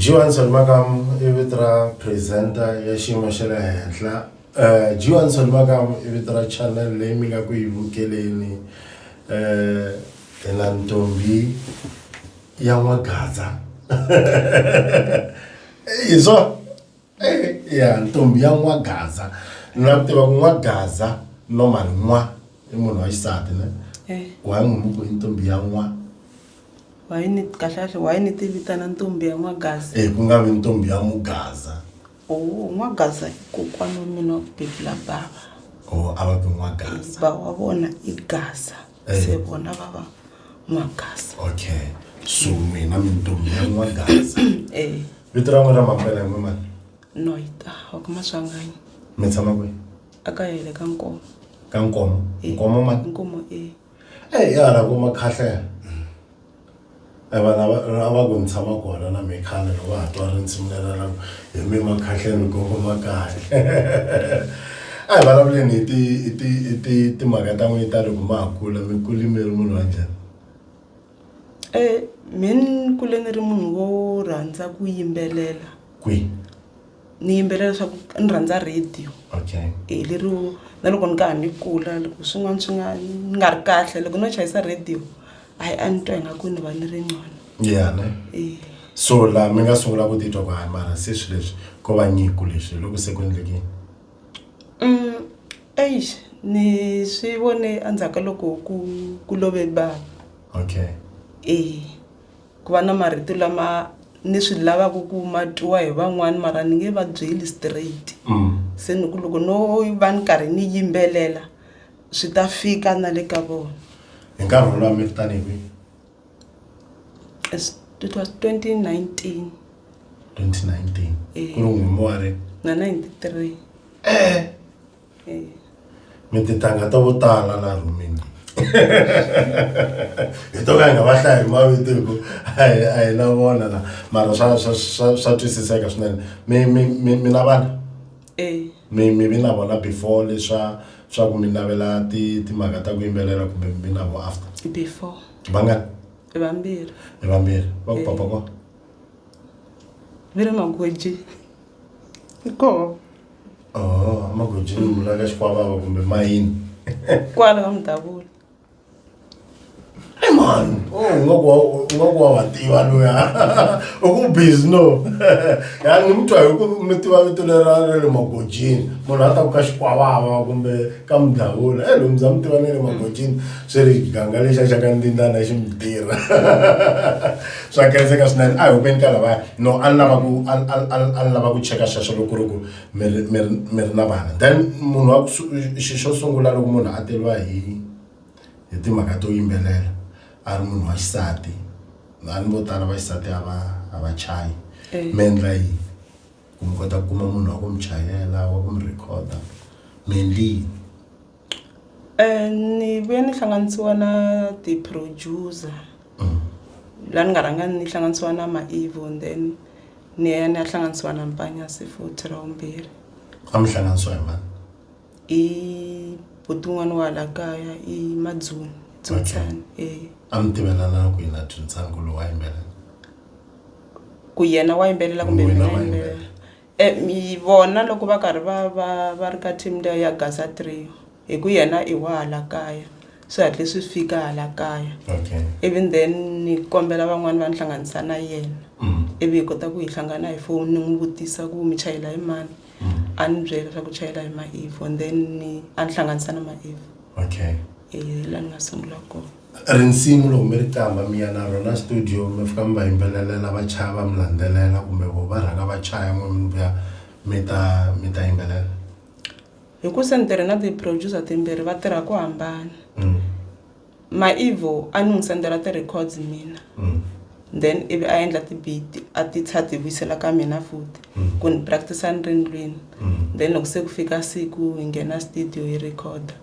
Johansson Makam i vito ra presenter ya xiyimo xa le henhla um Johansson Makam i vito ra channel leyi mi nga ku yi vukeleni um hi na ntombi ya n'wagadza hi swona. Eh, ya ntombi ya n'wagaza na ku tiva ku n'wagaza normal n'wa i munhu wa xisati ne Eh. why n'wi muku i ntombi ya n'wa wayi ni kahlekahle wayi ni tivitana ntombi ya n'wagaza e ku nga vi ntombi ya mugaza o n'wagaza i kokwana wa mina wa ku bebula bava o a va ku n'wagaza ba wa vona i gaza eh. se vona va va n'wagasa okay so mina mintombi ya n'wagasa eh. vito ra n'we ra mampela hi n'wemani noita wa kuma swanganyi mi tshama kwihi a ka yele ka nkomo ka nkomo eh. nkomo ma nkomo e eyi ya hala kuma khahlea E vanhu lava a va ku ni tshama kona na mehe khale loko ha twa rintshimi lera ra ku hi mi makhahleni gogo makahle a hi vulavuleni hi ti hi ti hi ti timhaka ta n'wina ta loko ma ha kula mi kule mi ri munhu wa njhani mehe ni kule ni ri munhu wo rhandza ku yimbelela kwihi. ni yimbelela leswaku ni rhandza radio okay e lero na loko ni ka ha ni kula loko swin'wana swi nga ni nga ri kahle loko no chayisa radio hayi a ni twa ingaku ni va ni ri ncono ya ne e so la mi nga sungula ku titwa ku hayi mara se swi leswi ko va nyiko leswi hi loko se ku endlekini um eish ni swi vone endzhaku ka loko ku ku love bava okay e Ku va na marito lama ni swi lavaka ku ma twiwa hi van'wana mara ni nge va byeli straight se ni ku loko no va ni karhi ni yimbelela swi ta fika na le ka vona hi nkarhi wolowo a mi ri tanihi kwihi As- it was 2019 2019 ku ri n'wini wa ri na 93 e mi titanga ta vo tala la rhumini hi to ka hi nga va hlaya hi mavito hi ku a hi a hi na vona la mara swa swa swa swa twisiseka swinene mi mi mi mi na vana Eh, mi mi vi na vona before leswa swa ku mi navela ti timhaka ta ku yimbelela kumbe mi vi na vo after before vangani i vambirhi hi vambirhi va ku papa ko vi ri magoji koho amagojini munhu aka xikwavava kumbe mayini kwala ka mudavula i mani ungaku wa wa tiva loya u ku busy no ya ni mutwa hi ku mi tiva vito lera ra le magojini munhu a ta ku ka xikwavava kumbe ka mudavula e lomu bya mi tiva na le magojini swi ri ganga lexa xa ka ndindana xi mi tirha swa kenzeka swinene a hi hupeni ka lavaya no a ni lava ku a ni- a ni- a ni- a ni lava ku cheka xexo loko ku ri ku mi ri- mi ri- mi ri na vana then munhu wa ku su- xi xo sungula loko munhu a teriwa hi hi timhaka to yimbelela a ri munhu wa xisati a ni vo tala va xisati a va a va chayi Eh. mi endla yini ku mi kota ku kuma munhu wa ku mi chayela wa ku mi rhekhoda mi endli yini Ni ve ni hlanganisiwa na ti producer la ni nga rhanga ni hlanganisiwa na Maivo and then ni ya ni ya hlanganisiwa na Mpanyasi futhi ra vumbirhi a mi hlanganisiwa hi mani i buti wun'wani wa hala kaya i Madzunga Dzungisani a mi tivelana kwihi na Dzungisani ku loyi wa yimbelela ku yena wa yimbelela kumbe mina ni yimbelela. vona loko va karhi va va va ri ka team liya ya Gaza three hi ku yena i wa hala kaya swi hatle swi fika hala kaya even then ni kombela van'wani va ni hlanganisa na yena ivi hi kota ku hi hlangana hi foni ni n'wi vutisa ku mi chayela hi mani a ni byela leswaku u chayela hi Maeve and then ni a ni hlanganisa na Maeve hi la ni nga sungula kona. Rinsimu loko mi ri qambha mi ya na rona studio mi fika mi va yimbelelela va chaya va mi landzelela kumbe vo va rhanga va chaya n'we mi vuya mi ta mi ta yimbelela hikusa ni tirhe na ti-producer timbirhi va tirha ku hambana mm. maivo a ni n'wi sendela ti-records mina mm. then ivi a endla ti-beat a ti tsha ti vuyisela ka mina futi mm. ku ni practice ni ri ndlwini mm. then loko se ku fika siku hi nghena studio hi recorda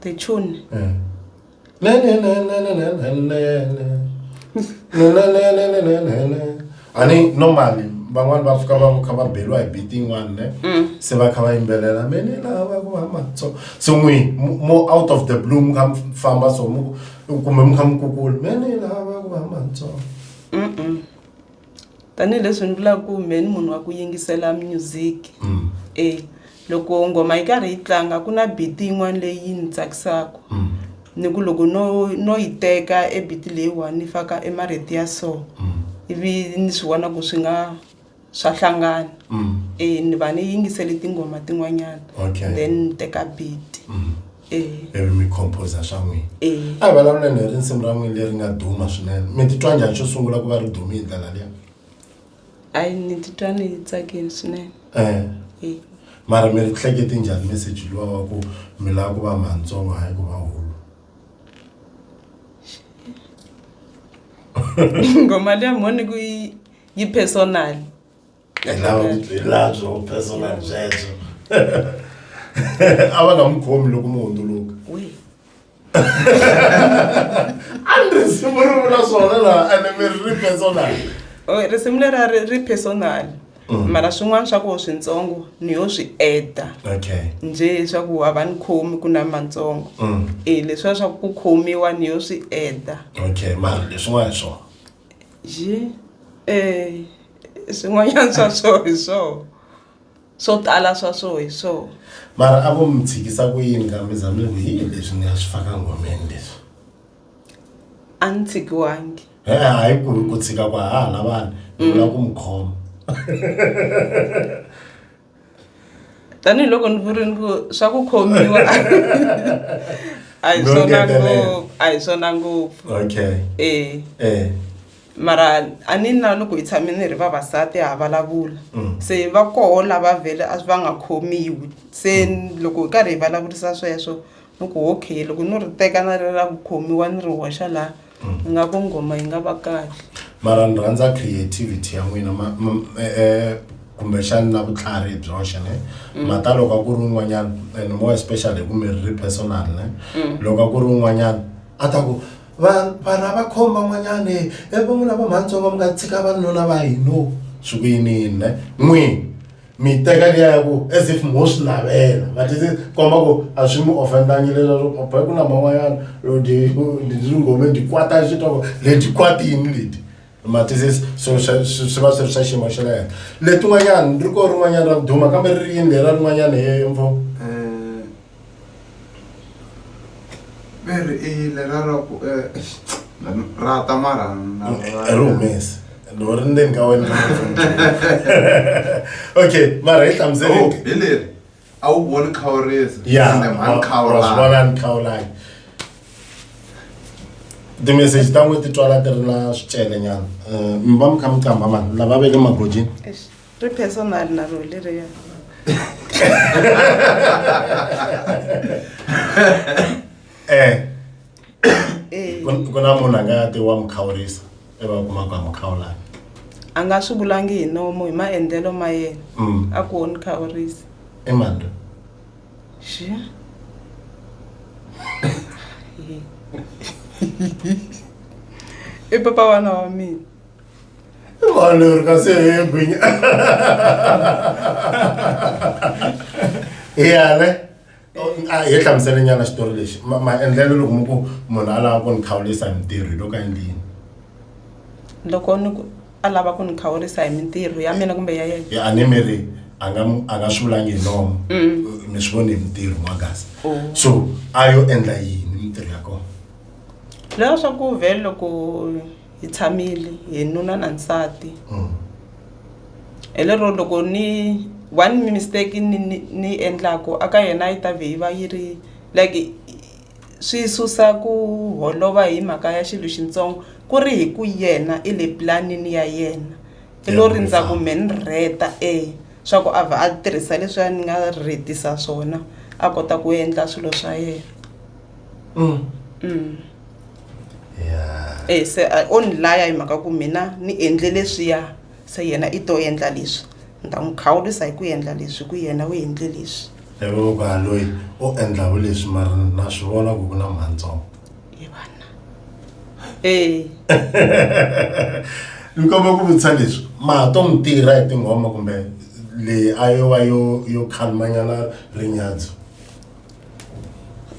Ты чё? ani normally van'wani va fika va kha va beriwa hi biti yin'wani ne se va kha va yimbelela me ni lava va ku hamba so so n'wi mo out of the blue mi kha mi famba so mu kumbe mi kha mi kukula me ni lava va ku hamba ntsongo tanihileswi ni vulaka ku mehe ni munhu wa ku yingisela music e loko nghoma yi karhi yi tlanga ku na beat yin'wana leyi ni tsakisaka ni ku loko no no yi teka e beat leyi one ni faka e marito ya so ivi ni swi vona ku swi nga swa hlangana e ni va ni yingisele tinghoma tin'wanyana then ni teka beat. ivi mi composa swa n'wina a hi vulavuleni hi risimu ra n'wini leri nga duma swinene mi titwa njhani xo sungula ku va ri dume hi ndlela liya ayi ni titwa ni tsakini swinene um mara mi ri hleketi njhani meseji luwa wa ku mi lava ku va mantsongo hayi ku va hulu ngoma liya mhoni ku yi personal a va nga n'wi khomi loko mu hundzuluka a ni risimu ri vula swona laha ene mi ri ri personal oh, risimu leri a ri ri personal Mm. mara swin'wana swa koho swintsongo ni yo swi eda njhe swa ku a va ni khomi ku na matsongo mm. e leswiya swa ku ku khomiwa ni yo swi eda okay mara leswin'wana hi swona yi eh swin'wanyana swa swo hi swona swo tala swa swo hi swona mara a vo mi tshikisa ku yini ka mi za mi ku yini leswi ni nga swi faka ngomeni leswi a ni tshikiwangi he hayi ku ku tshika ku ha ha lavani ni vula ku mi khoma tanihiloko ni vurini ku swa ku khomiwa a hi swona ngopfu a hi swona ngopfu okay e e mara a ni na loko hi tshame ni ri vavasati ha vulavula mm. se va koho lava vhele a va nga khomiwi se mm. loko hi karhi hi vulavurisa sweswo ni ku okay loko no ri teka na ri ra ku khomiwa ni ri hoxa laha ni nga ku nghoma yi nga va kahle mara ni rhandza creativity ya n'wina ma- ma- eh, eh, kumbexani na vutlhari byoxe ne mata loko a ku ri un'wanyana and more especially hi ku mi ri ri personal ne loko a ku ri un'wanyana a ta ku "Va- vanhu a va khoma n'wanyana e va n'wina va mhantsongo mi nga tshika vanuna va hino swi ku yiniyini ne n'wini mi teka liya ya ku as if mo swi navela but is komba ku a swi mi offendangi leswaku papa ku na man'wanyana ndzi nghome ndzi kwata xi twa ku le ndzi kwatini leti matisis so swi va swi ri swa xiyimo xa le henhla letin'wanyana ri ko rin'wanyana ra ku duma kambe ri ri yini lera rin'wanyana he mpfo ve ri i yile ra ra ku eh, eish, ra ta mara na- a ri humesi loko ri ndzeni ka wena okay mara hi Oh, hlamuseleni hi leri a wu voni khawurisi ya ende mhani wa swi khawulana vona ni khawulani timeseji ta n'wi ti twala ti ri na swicele nyana um mi va mi kha mi qamba mani lava ve le magodini Eish. Ri personal na ro leriya. Eh. Eh. Ku na munhu a nga ti wa mukhawurisa iva u kuma ku a mukhawulana. A nga swi vulangi hi nomo hi maendlelo ma yena. Mm. A ku wo ni khawurisa. I mani loyi? Xi. I papa wa n'wana wa mina. Valor ka se egwinya. Ya ne. a hi hlamuselenyana xitori lexi maendlelo loko mi ku munhu a lava ku ni khawulisa hi mintirho hi loko endlini loko ni ku a lava ku ni khawulisa hi mintirho ya mina kumbe ya yena a ni mi ri a nga a nga swi vulangi hi nomo mm. mi swi voni hi mintirho n'wagasi oh. so a yo endla yini mintirho ya kona loya swa ku vhele loko hi tshamile hi nuna na nsati mm. hi lero loko ni one mistake ni ni endlaku aka yena yi ta vhe yi va yi ri like swi susa ku holova hi mhaka ya xilo xintsongo ku ri hi ku yena i le planini ya yena i lo rindza ku me ni rheta e swa ku a vha a tirhisa leswiya ni nga rhetisa swona a kota ku endla swilo swa yena mm. mm. e se a o ni laya hi mhaka ku mina ni endle leswiya se yena i to endla leswi ni ta n'wi khawulisa hi ku endla leswi ku yena u endle leswi evoka loyi u endlaku leswi mara na swi vona ku ku na mantsongo hi vana e ni komba ku vutisa leswi ma ha to n'wi tirha hi tinghoma kumbe leyi a yo va yo yo khalimanyana rinyadzu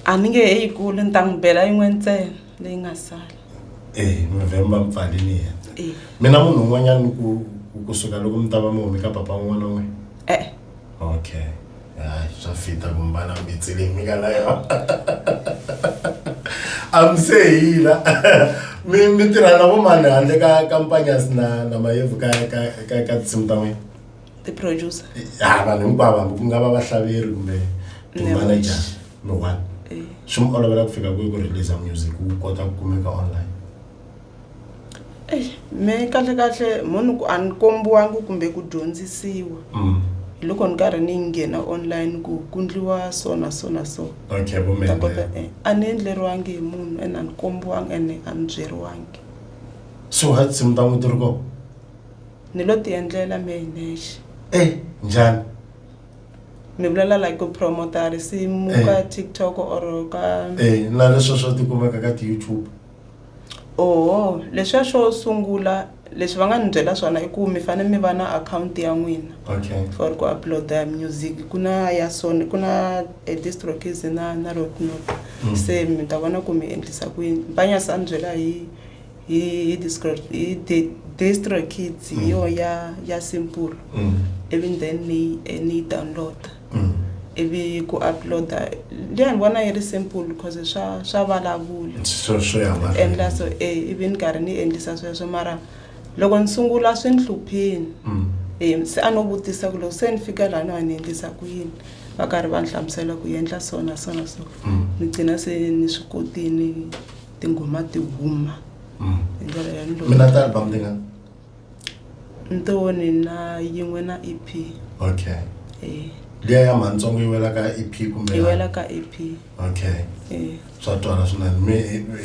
a ni nge he yi kuli ni ta n'wi bela yin'we ntsena leyi nga sala eh november mpfali ni yena Eh. mina munhu un'wanyana ni ku kusuka loko mi ta va mi humi ka papa un'wana n'we e-e okay hayi swa fita kumbana mitsile mi nga na yona a mi se hila mi mi tirha na vo mani handle ka ka mpanyasi na na mayevu ka ka ka ka tinsimu ta n'wina tiproducer ha vanhu hinkwavo hambi ku nga va vahlaleri kumbe timanager no one eh. swi mi olovela ku fika kwihi ku release music wu kota ku kumeka online me kahle kahle munhu a ni kombiwangi kumbe ku dyondzisiwa mm. hi loko ni karhi ni nghena online ku ku ndliwa so na so na so kota eh, a ni endleriwangi hi munhu ene a ni kombiwangi ene a ni byeriwangi so ha tinsimu ta n'wi ti ri kona Ni lo ti endlela me hi nexe. Eh njhani? Ni vulela like ku promoter risimu Eh. ka TikTok or ka Eh na leswo swo tikumeka ka ti-YouTube. oho leswiya swo sungula leswi va nga ni byela swona i ku mi fane mi va na akhawunti ya n'wina Okay. for ku upload-a music ku na ya sony ku na eh, distrokis na na roadnote Mm. se mi ta vona ku mi endlisa ku yini mpanyasi a ni byela hi hi discro hi de- distro kids hi yo ya ya simple Mm. ivi then ni eh, ni yi download Mm. ivi ku uploada liya ni vona yi ri simple because swa swa vulavula swo swo ya mahlweni. endla so e ivi ni karhi ni endlisa sweswo mara loko ni sungula swi ni hluphini Mm. um se a no vutisa ku loko se ni fika laha no a ni endlisa ku yini va karhi va ni hlamusela ku yi endla so na so na so Mm. ni gcina se ni swi kotini tinghoma ti huma mm. hi ndlela yaloyo mina ta album tingani ntoni na yin'we na e p okay eh. liya ya mantsongo yi wela ka e p kumbe yi wela ka e p okay eh. swa twala swinene mi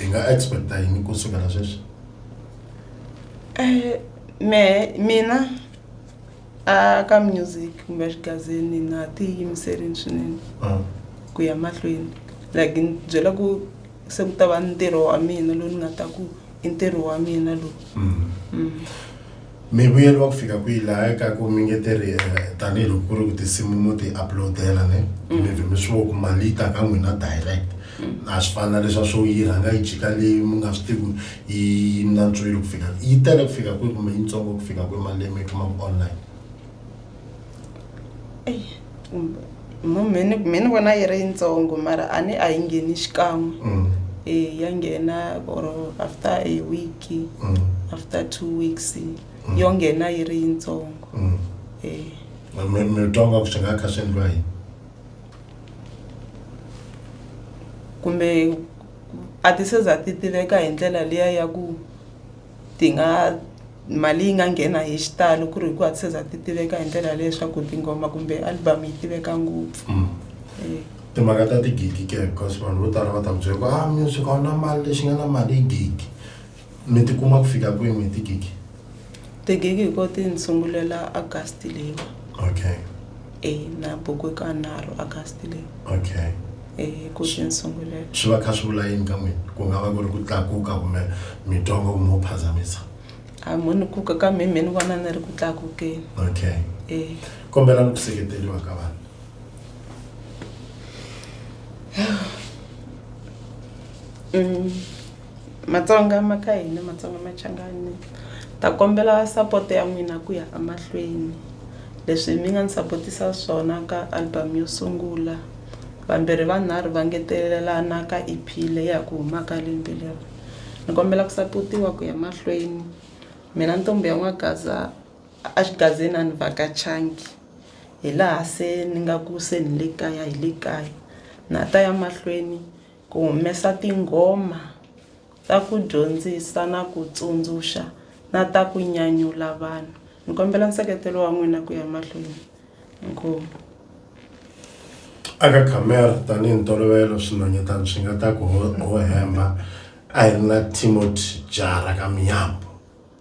hi nga expecta yini ku sukela sweswi um me mina a ka music kumbe xigazini na ha ti yimiserini swinene Mm. ku ya mahlweni like ni byela ku se ku ta va ntirho wa mina lowu ni nga ta ku i ntirho wa mina lowu Mm. Mm. mi vuyeriwa ku fika kwihi laha ka ku mi nge tirhi eh, tanihiloko ku ri ku tinsimu mo ti uploadela ne mi vhe mi swi vo ku mali yi ta ka n'wina direct na swi fana na leswa swo yi rhanga yi jika leyi mi nga swi tivi ku yi na ntswilo ku fika yi tele ku fika kwihi kumbe yitsongo ku fika kwihi mali leyi mi yi kumaka online mhani mi ni vona yi ri yitsongo mara a ni a yi ngheni xikan'we mm. e ya nghena or after a week mm. after two weeks mm. yo nghena yi ri yitsongo e mi twa nga ku swi nga kha swi endliwa yini kumbe a ti se za ti tiveka hi ndlela liya ya ku ti nga mali yi nga nghena hi xitalo ku ri hi ku a ti se za ti tiveka hi ndlela ya leswaku tinghoma kumbe album yi tiveka ngopfu timhaka ta tigigi ke because vanhu vo tala va ta ku byela ku a music a wu na mali lexi nga na mali i gigi. Mi ti kuma ku fika kwini hi tigigi? Tigigi ko ti ni sungulela August leyi. Okay. E na buku ka nharhu August leyi. Okay. E ku ti ni sungulela. Swi va kha swi vula yini ka n'wina? Ku nga va ku ri ku tlakuka kumbe mi twa ngo mo phazamisa? A mo ni kuka ka mi mi ni vona ni ri ku tlakukeni. Okay. E. Kombela ni ku seketeriwa ka vanhu. Mm. Matsonga ma ka hina Matsonga Machangani ta kombela support ya n'wina ku ya a mahlweni leswi mi nga ni sapotisa swona ka album yo sungula vambirhi vanharhu va ngetelelana ka E_P leyi ya ku humaka lembe leri ni kombela ku sapotiwa ku ya mahlweni mina ntombhi ya n'wagaza a xigazini a ni vhakachangi hi laha se ni nga ku se ni le kaya hi le kaya na ha ta ya mahlweni. Ku humesa tinghoma ta ku dyondzisa na ku tsundzuxa na ta ku nyanyula vanhu. Ni kombela nseketelo wa n'wina ku ya mahlweni. Inkomu. Aka camera tanihi ntolovelo swinhwanyetana swi nga ta ku ho ho hemba I ri na Timothy Jara ka Mnyambo.